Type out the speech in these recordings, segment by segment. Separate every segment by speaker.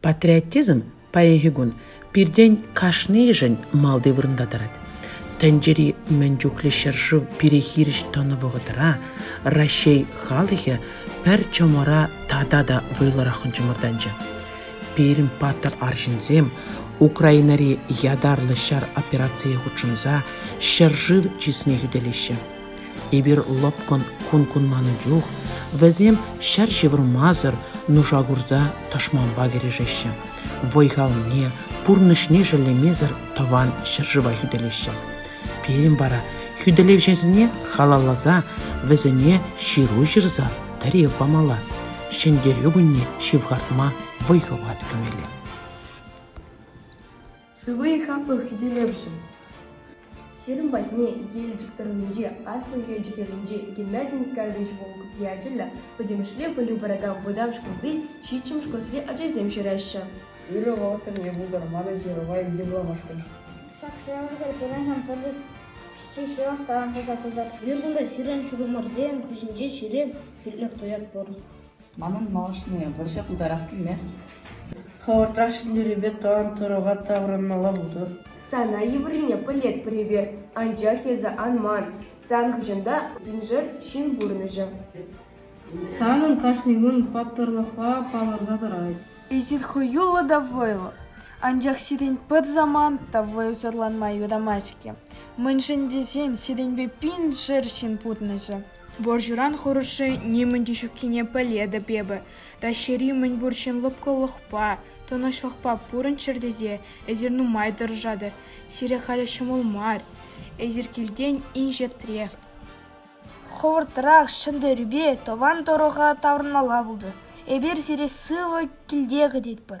Speaker 1: Патриотизм паянхи кун пиртен кашнийӗшӗн малти вырӑнта тӑрать. Тӗнчери мӗн чухлӗ ҫӗршыв пире хирӗҫ тӑнӑ вӑхӑтра Раҫҫей халӑхӗ пӗр чӑмӑра тата та вӑйлӑраххӑн чӑмӑртанчӗ. Пирӗн паттӑр арҫынсем Украинӑри ятарлӑ ҫар операцийӗ хутшӑнса ҫӗршыв чысне хӳтӗлеҫҫӗ. Эпир лӑпкӑн кун кунланӑ чух вӗсем ҫӗр ҫывӑрмасӑр нуша курса тӑшманпа кӗрешеҫҫӗ, вӑй-халне, пурнӑҫне шеллемесӗр тӑван ҫӗршыва хӳтӗлеҫҫӗ. Пирӗн вара хӳтӗлевҫӗсене халалласа вӗсене ҫыру ҫырса тӗрев памалла, Ҫӗнтерӳ кунне ҫывхартма вӑй хӑват кӳмелле.
Speaker 2: Сывӑ и хаклӑ хӳтӗлевҫӗ! Сирӗн патне Елчӗк тӑрӑхӗнчи Аслӑ Елчӗк ялӗнчи Геннадий Николаевич Волков ячӗллӗ пӗтӗмӗшле пӗлӳ паракан вӑтам шкулти ҫиччӗмӗш класри ачасем ҫыраҫҫӗ. Ырӑ вӑхӑтӑмне
Speaker 3: пултӑр манӑн ҫырӑва йышӑмламашкӑн. Ҫак суйлавсене
Speaker 4: пурӑнакан пӗрлештерсе ҫырав таран туса пытӑр. Пирӗн кунта сирӗн
Speaker 5: ҫурӑмӑрсем хыҫӗнче ҫире хӳтлӗх туять пур. Манӑн малашне
Speaker 3: вӑрҫӑ пултарас килмест. Хӑвӑртра
Speaker 6: ҫӗнтерӳпе тӑван Турӑва таврӑнмалла пултӑр. Сана йывӑррине
Speaker 2: пӗлетпӗр эпир, анчах эсӗ ан ман. Сан хыҫӑнта вуншар ҫын пурӑнӑҫӗ.
Speaker 5: Санӑн кашни кун паттӑрлӑхпа палӑрса тӑрать. Эсир хӑюллӑ
Speaker 7: та вӑйлӑ, анчах сирӗн пӗр самант та вӑйсӑрланма юрамасть-ҫке. Мӗншӗн тесен сирӗнпе пиншер ҫын пурӑнӑҫӗ. Вӑрҫӑран хӑрушши нимӗн те ҫуккине пӗлетӗп эпӗ. Раҫҫейри мӗнпур ҫын лӑпкӑлӑхпа, тӑнӑҫлӑхпа пурӑнччӑр тесе эсир нумай тӑрӑшатӑр. Сире халӗ ҫӑмӑл мар. Эсир килтен инҫетре.
Speaker 4: Хӑвӑртрах ҫӗнтерӳпе тӑван тӑрӑха таврӑнмалла пултӑр. Эпир сире сывӑ килте кӗтетпӗр.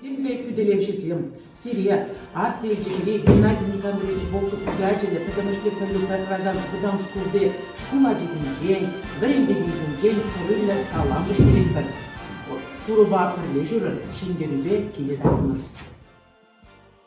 Speaker 1: Темле хӳтӗлевҫӗсем сире аслӑ Елчӗкри Геннадий Никандрович Волков ячӗллӗ пӗтӗмӗшле пӗлӳ паракан вӑтам шкулти шкул ачисенчен, вӗрентекенсенчен курӑмлӑ салам ӳстеретпӗр. Турӑпа пӗрлешӳрӗн ҫӗнтерӳпе киле таврӑнӑр.